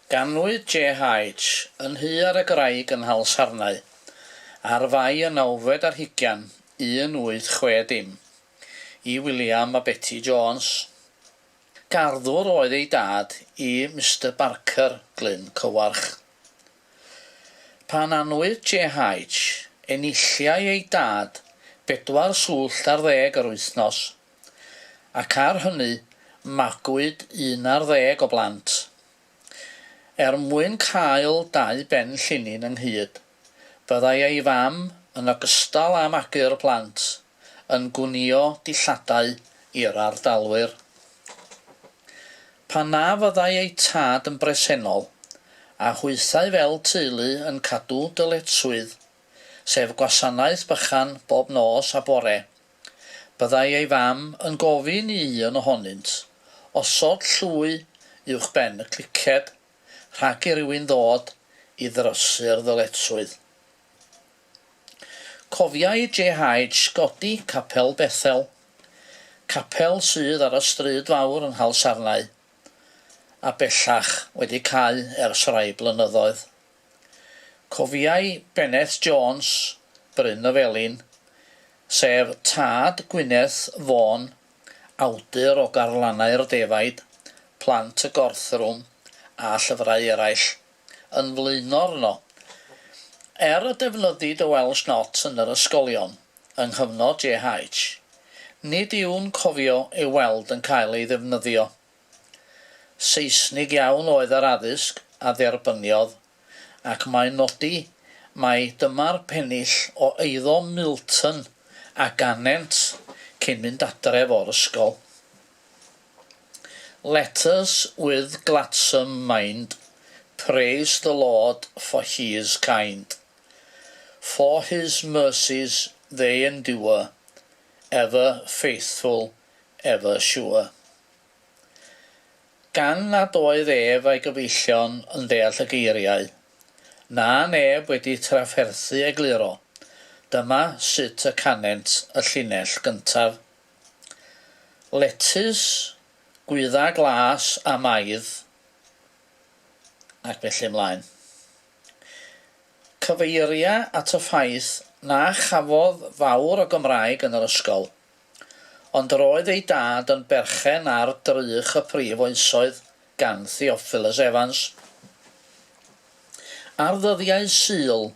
Ganwyd JH. yn Nhy ar y Graig yn Nhalsarnau, ar Fai y nawfed ar hugian 1860, i William a Betty Jones. Garddwr oedd ei dad i Mister Barker, Glyn Cywarch. Pan anwyd JH, enilliai ei dad bedwar swllt ar ddeg yr wythnos, ac ar hynny magwyd un ar ddeg o blant. Er mwyn cael dau ben llinyn ynghyd, byddai ei fam, yn ogystal â magu'r plant, yn gwnïo dillladau i'r ardalwyr. Pan na fyddai eu tad yn bresennol, a hwythau fel teulu yn cadw dyletswydd, sef gwasanaeth bychan bob nos a bore, Byddai ei fam yn gofyn i un ohonynt osod llwy uwchben y cliced rhag i rywun ddod i ddrysu'r ddyletswydd. Cofiai JH godi Capel Bethel, capel sydd ar y stryd fawr yng Nghalsarnau, a bellach wedi cau ers rhai blynyddoedd. Cofiai Bennet Jones, Bryn y Felin, sef tad Gwyneth Vaughan, awdur o garlannau'r defaid, Plant y Gorthrwm a llyfrau eraill, yn flaenor yno. Er y defnyddid y Welsh Not yn yr ysgolion yng nghyfnod JH, nid yw'n cofio ei weld yn cael ei ddefnyddio. Seisnig iawn oedd yr addysg a dderbyniodd, ac mae'n nodi mai dyma'r pennill o eiddo Milton a ganent cyn mynd adref o'r ysgol. Letters with gladsome mind praise the Lord for He is kind, for His mercies they endure, ever faithful, ever sure. Gan nad oedd ef a'i gyfeillion yn deall y geiriau, na neb wedi trafferthu egluro, dyma sut y canent y llinell gyntaf, Letys gwydda glas a maidd, ac felly ymlaen. Cyfeiria at y ffaith na chafodd fawr o Gymraeg yn yr ysgol. Ond yr oedd ei dad yn berchen ar drych y prif oesoedd gan Theophilus Evans. Ar ddyddiau Sul,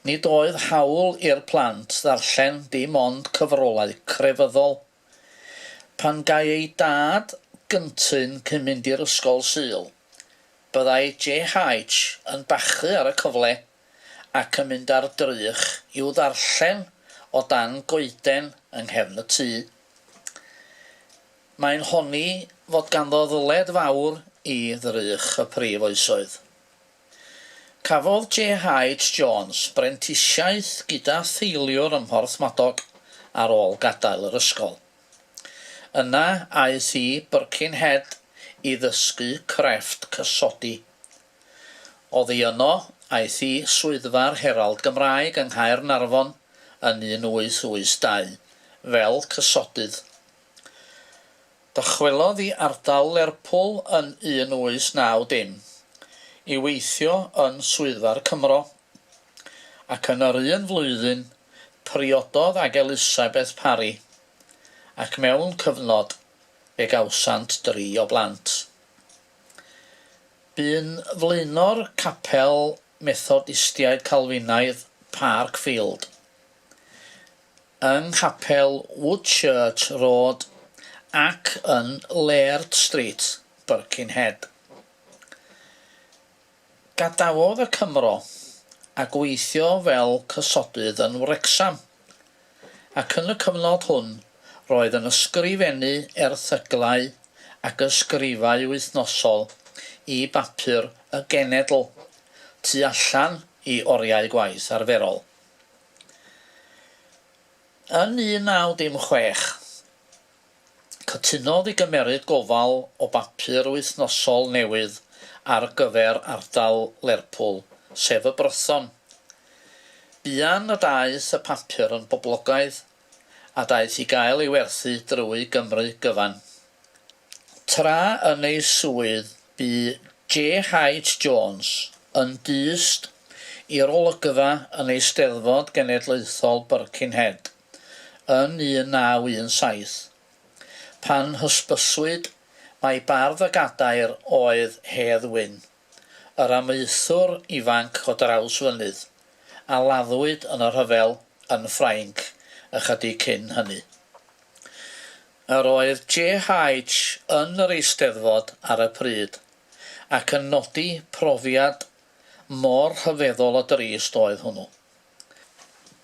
nid oedd hawl i'r plant ddarllen dim ond cyfrolau crefyddol. Pan gai ei dad gyntu'n cyn mynd i'r ysgol Sul, byddai JH yn bachu ar y cyfle ac yn mynd ar drych i'w ddarllen o dan goeden yng nghefn y tŷ. Mae'n honni fod ganddo ddyled fawr i ddrych y Prif Oesoedd. Cafodd JH Jones brentisiaeth gyda theuluwr ym Mhorthmadog ar ôl gadael yr ysgol. Yna aeth i Birkenhead i ddysgu crefft cysodi, Oddi yno, aeth i Swyddfa'r Herald Gymraeg yng Nghaernarfon yn 1882 fel cysodydd. Dychwelodd i ardal Lerpwl yn 1890 i weithio yn Swyddfa'r Cymro, ac yn yr un flwyddyn priododd ag Elisabeth Parry, ac mewn cyfnod fe gawsant dri o blant. Bu'n flaenor capel Methodistiaid Calfinaidd Park Field yng nghapel Woodchurch Road ac yn Laird Street, Birkenhead. Gadawodd y Cymro a gweithio fel cysodydd yn Wrecsam ac yn y cyfnod hwn roedd yn ysgrifennu erthyglau ac ysgrifau wythnosol i bapur y genedl, tu allan i oriau gwaith arferol. Yn 1916, Cytunodd i gymeryd gofal o bapur wythnosol newydd ar gyfer ardal Lerpwl, sef y Brython. Buan y daeth y papur yn boblogaidd a daeth i gael ei werthu drwy Gymru gyfan. Tra yn ei swydd bu JH Jones yn dyst i'r olygfa yn Eisteddfod Genedlaethol Birkenhead. yn 1917. Pan hysbyswyd mai bardd y gadair oedd Hedd Wyn, yr amaethwr ifanc o Drawsfynydd, a laddwyd yn y rhyfel yn Ffrainc ychydig cyn hynny. Yr oedd JH yn yr Eisteddfod ar y pryd, ac yn nodi profiad mor rhyfeddol o drist oedd hwnnw.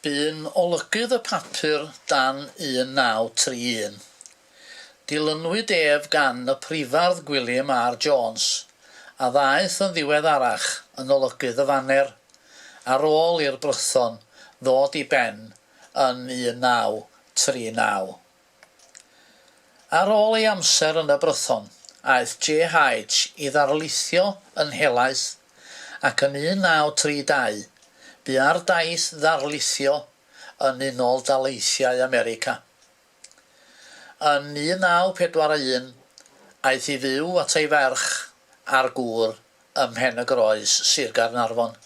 Bu'n olygydd y papur dan 1931. Dilynwyd ef gan y Prifardd Gwilym R. Jones, a ddaeth yn ddiweddarach yn olygydd y Faner, ar ôl i'r Brython ddod i ben yn 1939. Ar ôl ei amser yn Y Brython, aeth JH i ddarlithio yn helaeth, ac yn 1932, bu ar daith ddarlithio yn Unol Daleithiau America. Yn 1941, aeth i fyw at ei ferch a'r gŵr ym Mhen-y-groes, Sir Gaernarfon.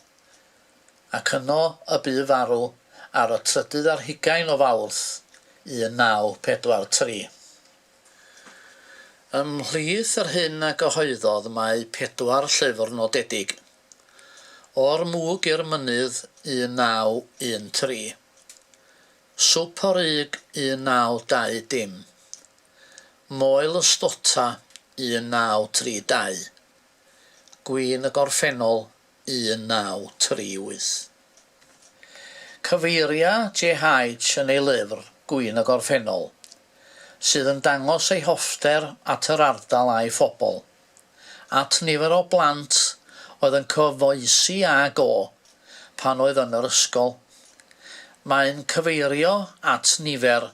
ac yno y bu farw ar y trydydd ar hugain o Fawrth 1943. Ymhlith yr hyn a gyhoeddodd mae pedwar llyfr nodedig, O'r Mwg i'r Mynydd 1913, Swp o Ryg 1920, Moel y Stota 1932, Gwin y Gorffennol 1938. Cyfeiria JH yn ei lyfr Gwin y Gorffennol, sydd yn dangos ei hoffter at yr ardal a'i phobl, at nifer o blant oedd yn cyfoesi ag o pan oedd yn yr ysgol. Mae'n cyfeirio at nifer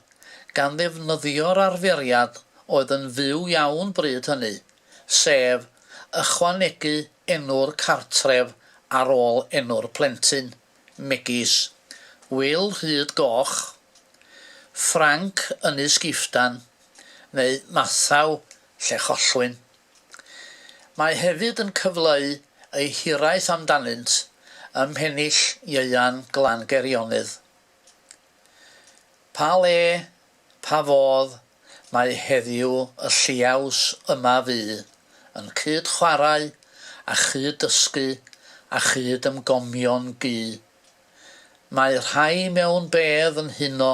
gan ddefnyddio'r arferiad oedd yn fyw iawn bryd hynny, sef ychwanegu enw'r cartref ar ôl enw'r plentyn, megis, Wil Rhyd Goch, Ffranc Ynys Giftan neu Mathaw Llechollwyn. Mae hefyd yn cyfleu ei hiraeth amdanynt ym Mhennill Ieuan Glan Geirionydd. Pa le Pa fodd mae heddiw y lliaws yma fu, yn cyd chwarae, a chyd dysgu, a chyd ymgomio'n gu. Mae rhai mewn bedd yn huno,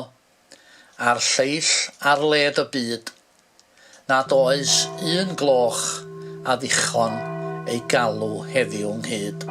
a'r lleill ar led y byd, nad oes un gloch a ddichon ei galw heddiw nghyd.